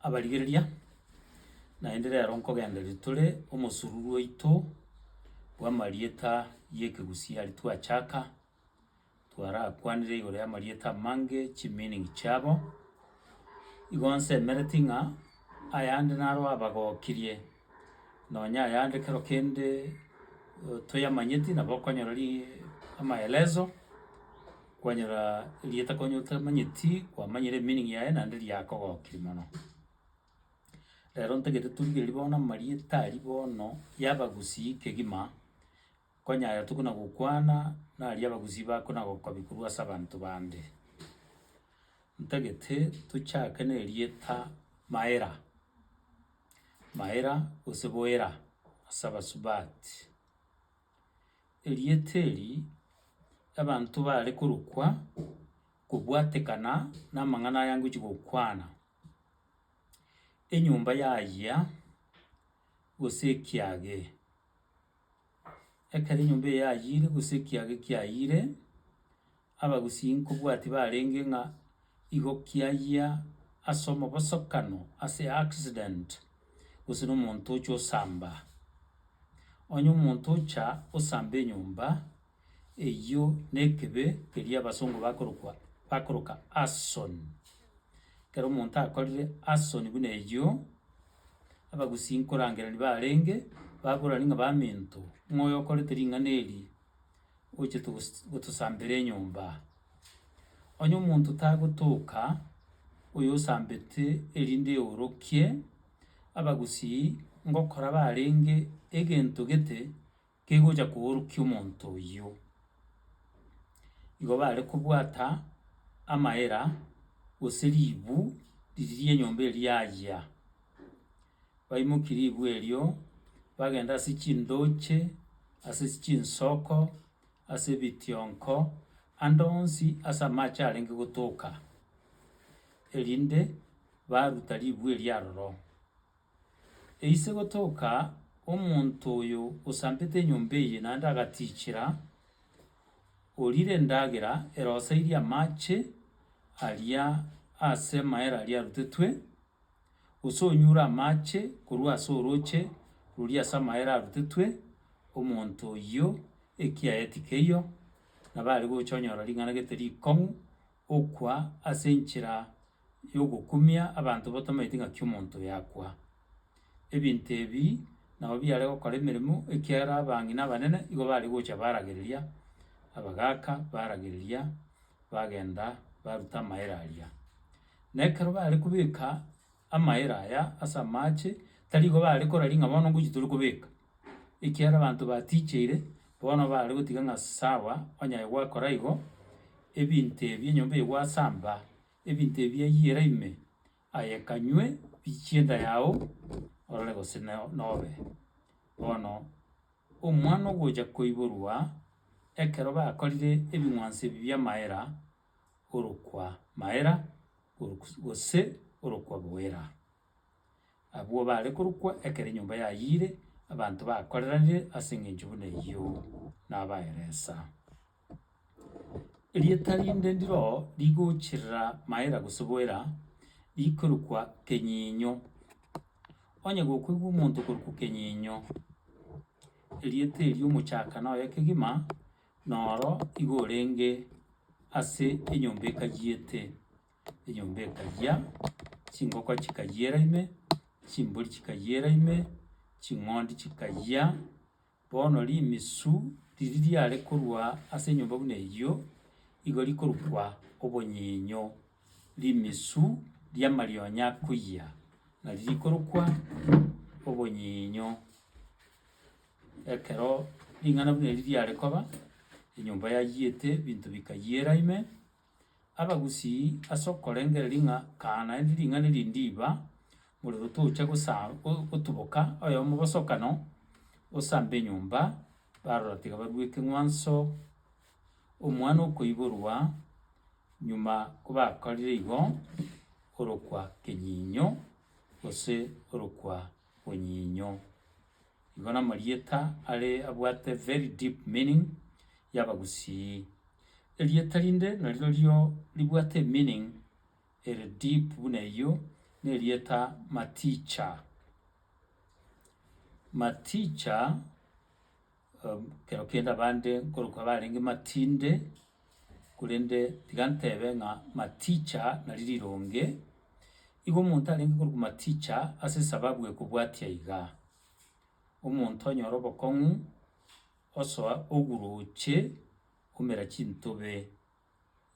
abarigereria, naende rero nkogendereria tore omosururu oito bw'amarieta y'ekegusii aria twachaka, twarakwanire igoro y'amarieta amange chi-meaning chiabo. Igo nsemereti ng'a ayande naro abagokirie. Nonya ayande kero kende toyamanyeti nabo okonyora ri amaelezo, kwanyora erieta konya otamanyeti kwamanyire emeaning yaye naende riakogokiri mono. Rero ntagete torigereria bono amarieta aria bono y'abagusii kegima. Konya aya tokona gokwana naria abagusii bakona gokobi korwa ase abanto bande. Ntagete tochake ne rieta Maera, Maera gose Boera ase abasubati. Erieta eri abanto bare korokwa kobwatekana na amang'ana aya ngochi gokwana, enyomba yayia gose ekiage. Ekero enyomba eye yayiire gose ekiaga kiayiire, abagusii nkobwati barenge ng'a igo kiayia ase omobosokano ase accident, gose na omonto ocha osamba. Onye omonto ocha osamba enyomba. Eyio nekebe keria abasongo bakorokwa bakoroka arson. Ekero omonto akorire arson buna eyio, abagusii nkorangereri barenge, baborani ng'a baminto, ng'a oyo okorete ring'ana eri, ochete gos gotosambera enyomba. Onye omonto tagotoka, oyo osambete erinde eorokie, abagusii ngokora barenge egento gete. kegocha koorokia omonto oyio. Igo bare kobwata amaera gose ribu riri ri'enyomba eria yayia. Baimokia ribu erio, bagenda ase chindoche, ase chinsoko, ase ebitionko, ande onsi ase amache arenge gotoka, erinde baruta ribu eria aroro. Eise gotoka omonto oyo osampete enyomba eye, naende agatiichera, oriire endagera ere osairie amache aria ase amaere aria arutetwe, gose onyure amache korwa ase orooche roria ase amaere arutetwe, omonto oyio ekiaye tikeiyo, nabo are gocha onyora ring'ana gete rikong'u, okwa ase enchera. y'ogokumia abanto batamaeti ng'aki omonto oyo akwa. Ebinto ebi nabo biare gokora emeremo ekiagera abang'ina na abanene nigo bare gocha baragereria abagaka baragereria bagenda baruta amaere aria. Na ekero bare kobeka amaere aya ase amache, tari igo bare koraria ng'a bono ngochi tore kobeka, ekiagera abanto ba ticheire bono bare gotiga ng'a sawa onye aye gwakora igo, ebinto ebi enyomba eye gwasamba. Ebinto ebi ayiera ime aye kanywe biichie enda yao, orore gose nobe. Bono Omwana-ogocha koiborwa ekero bakorire ebing'wanso ebi bi'amaera, orokwa maera gose orokwa bwera. Abwo bare korokwa ekero enyomba yayiire abanto bakoreranire as'engencho buna eyio nabaeresa. Erieta rinde ndiro rigochirira maera gose boera, rikorokwa kenyinyo. Onye gokoigwa omonto okorokwa kenyinyo, erieta erio omochakano oye kegima, noro igo orenge ase enyomba ekayiete, enyomba ekayia, chingoko chikayiera ime, chimbori chikayiera ime, ching'ondi chikayia. Bono rimisu riria riare korwa ase enyomba buna eyio, igo rikorukwa obonyinyo, rimisu ri'amarionya akoyia, nari rikorokwa obonyinyo. Ekero ring'ana buna eri riare koba, enyomba yayiete, ebinto bikayiera ime, Abagusii ase okorengereria ng'a kaa naende ring'ana eri ndiba, morero tocha gosa gotuboka oyomo bosokano osambe enyomba, barora tiga baruete ng'wanso omwana okoiborwa, nyuma kobakorire igo, orokwa kenyinyo gose orokwa bonyinyo. Igo namarieta are abwate very deep meaning y'Abagusii. Erieta rinde narirorio ribwate emeaning ere deep buna eyio nerieta Maticha. Maticha. Ekero kende abande nkorokwa barenge matinde, korende tiga ntebe ng'a maticha nari rironge. Igo omonto arenge korokwa maticha ase esababu ekobwatia iga, omonto onyore obokong'u, osoa oguruche omera chintobe.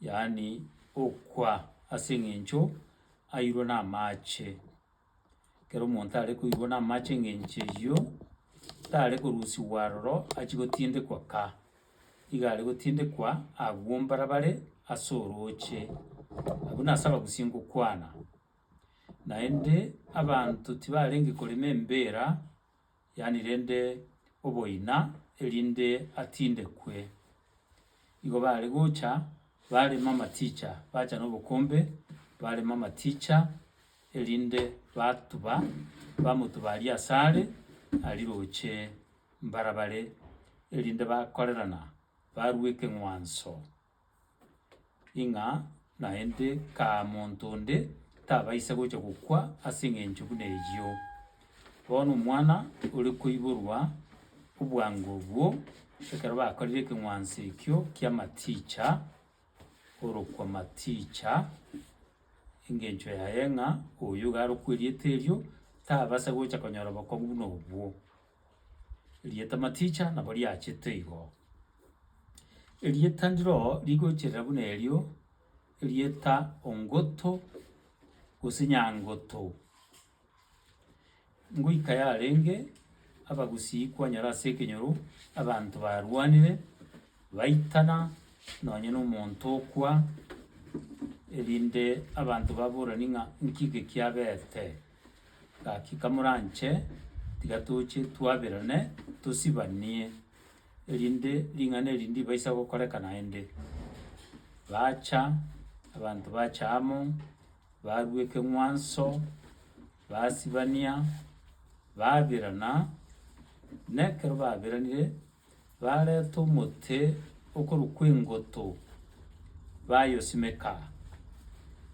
yaani okwa ase eng'encho airwe namache. Ekero omonto are koirwa namache eng'encho eyio, tare korusigwa aroro achie gotindekwa ka, iga are gotindekwa agwo mbarabare ase orooche, abwo nase abagusia ngokwana. Naende abanto tibarenge korema embira. yaani rende oboina, erinde atindekwe. Igo baare gocha barema amaticha, bacha nobokombe barema amaticha, erinde batuba, bamotuba aria asare, aria roche mbarabare, erinde bakorerana, barua ekeng'wanso. ing'a naende kaa monto onde tabaisa gocha gokwa ase eng'encho buna eyio. Bono omwana ore koiborwa obwango obwo ekero bakorire ekeng'wanso ekio kia maticha, orokwa maticha, engencho yaye ng'a oyo iga arokweriete erio, tabasa gocha konyora obokong'u buna obwo. Erieta maticha nabo riachete igo. Erieta ndiro rigocherera buna erio, erieta ongoto gose nyangoto. Ngoika yarenge, abagusii kwanyora ase ekenyoro, abanto barwanire, baitana, nonye na omonto okwa, erinde abanto baborani ng'a nki eke kiabete. Gaki kamoranche, tiga toche twaberane, tosibanie, erinde ring'ana eri ndibaisa gokoreka naende. Bacha, abanto bacha amo, barwa ekeng'wanso, basibania, baberana, na ekero baberanire, Bareta omote okorwa kw'engoto, bayosimeka,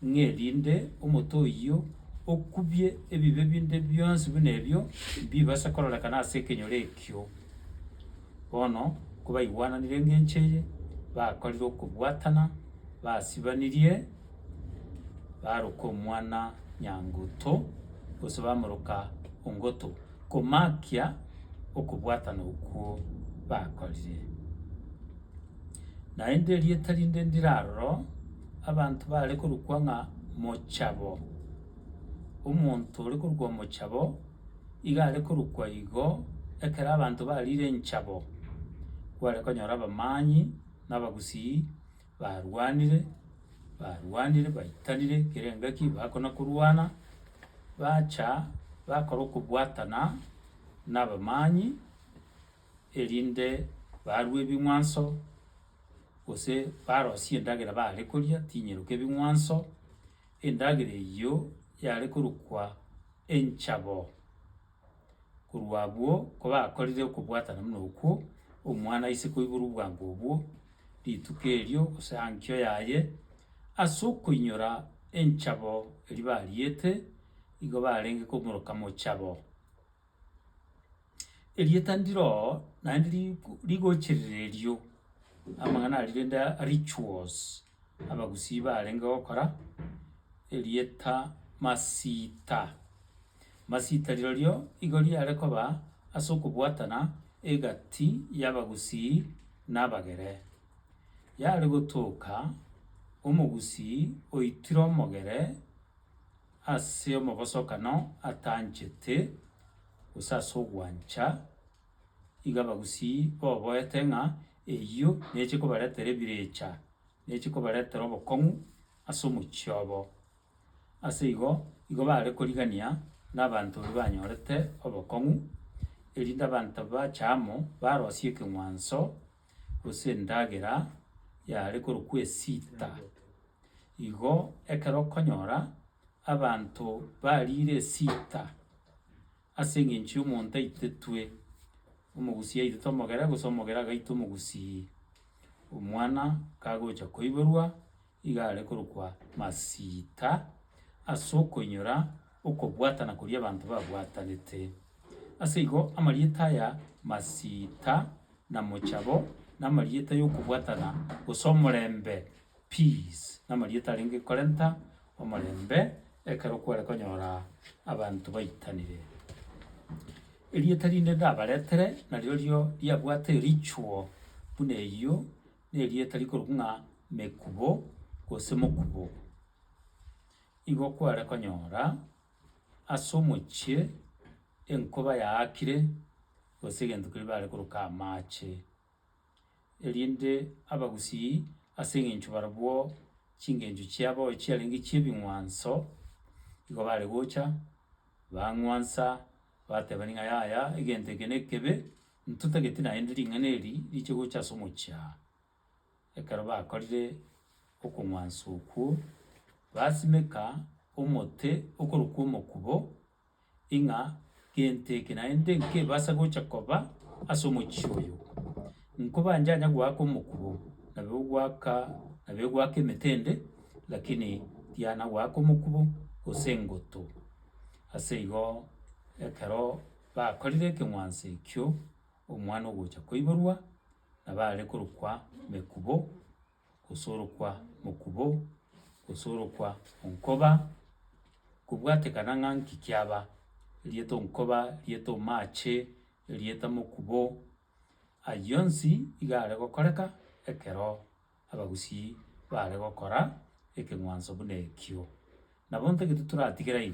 ng'erinde omote oyio okubie ebibe binde bionsi buna ebio mbibase kororekana ase ekenyoro ekio. Bono kobaigwananire engencho eye, bakorire okobwatana, basibanirie, baroka omwana nyanguto, gose bamoroka ongoto. komaakia okobwatana okwo bakorire. Naende erieta rinde ndire aroro, abanto baare korokwa ng'a Mochabo. Omonto ore korokwa Mochabo, iga are korokwa igo, ekero abanto bariire enchabo, kware konyora abamanyii na abagusii. Barwanire, barwanire, baitanire kera engaki bakona korwana, bacha bakora okobwatana nabamanyinyi, erinde barwe ebing'wanso, gose barosie endagera baare koria tinyeroka ebing'wanso, endagera eyio yare korokwa enchabo. Korwa abwo, kobakorire okobwatana buna okwo, omwana ise koibora obwango obwo rituko erio gose eankio yaye, ase okoinyora enchabo eria bariete, igo barenge komoroka mochabo. Erieta ndiro naende riku- rigocherera erio, amang'ana aria rende rituals. Abagusii barenge gokora erieta Masita. Masita rirorio igo riare koba ase okobwatana egati y'Abagusii na Abagere. Yare gotoka Omogusii oitire Omogere ase omobosokano atanchete, gose ase ogwancha. Iga abagusii boboete ng'a eyio neche kobaretera ebirecha, neche kobaretera obokong'u ase omochie obo. Ase igo, igo bare korigania na abanto baria banyorete obokong'u, erinde abanto bache amo barosie ekeng'wanso gose endagera yare korokwa esita. Igo ekero okonyora abanto bariire esita. Ase engencho y'omonto aitetwe omogusii aitete omogere, gose omogere agaitwa omogusii, omwana kagocha koiborwa iga are korokwa masiita ase okoinyora okobwatana koria abanto babwatanete. Ase igo amarieta aya masiita na mochabo, na amarieta y'okobwatana gose omorembe. Peace, namarieta arenge korenta omorembe ekero kware konyora abanto baitanire. Erieta rinde ndabaretere narirorio riabwate erichuo buna eyio nerieta rikorokwa ng'a Mekubo gose Mokubo. Igo kware konyora ase omochie enkoba yaakire gose egento keria bare koroka amache. erinde abagusii ase eng'encho barabwo chingencho chiabo chiarenge chi'ebing'wanso, igo bare gocha bang'wansa batebani ng'a yaya egento eke nekebe, ntotagete naende ring'ana eri riche gocha ase omochie aa. Ekero bakorire okong'wansa okwo, basimeka omote okorokwa omokubo, ing'a gento eke naende nkebasa gocha koba ase omochie oyo. Nkobanchanya goaka omokuo, nabo ogoaka nabo egoaka emetende, lakini tiana goaka omokubo gose engoto. Ase igo ekero bakorire ekeng'wanso ekio, omwana ogocha koiborwa nabo aare korokwa Mekubo, gose orokwa mokubo, gose orokwa onkoba, kobwatekana ng'a nki kiaba, erieta onkoba, erieta omaache, erieta mokubo, aywo onsi iga are gokoreka ekero abagusii bare gokora ekeng'wanso buna ekio. Nabo ntagete toratigera igo.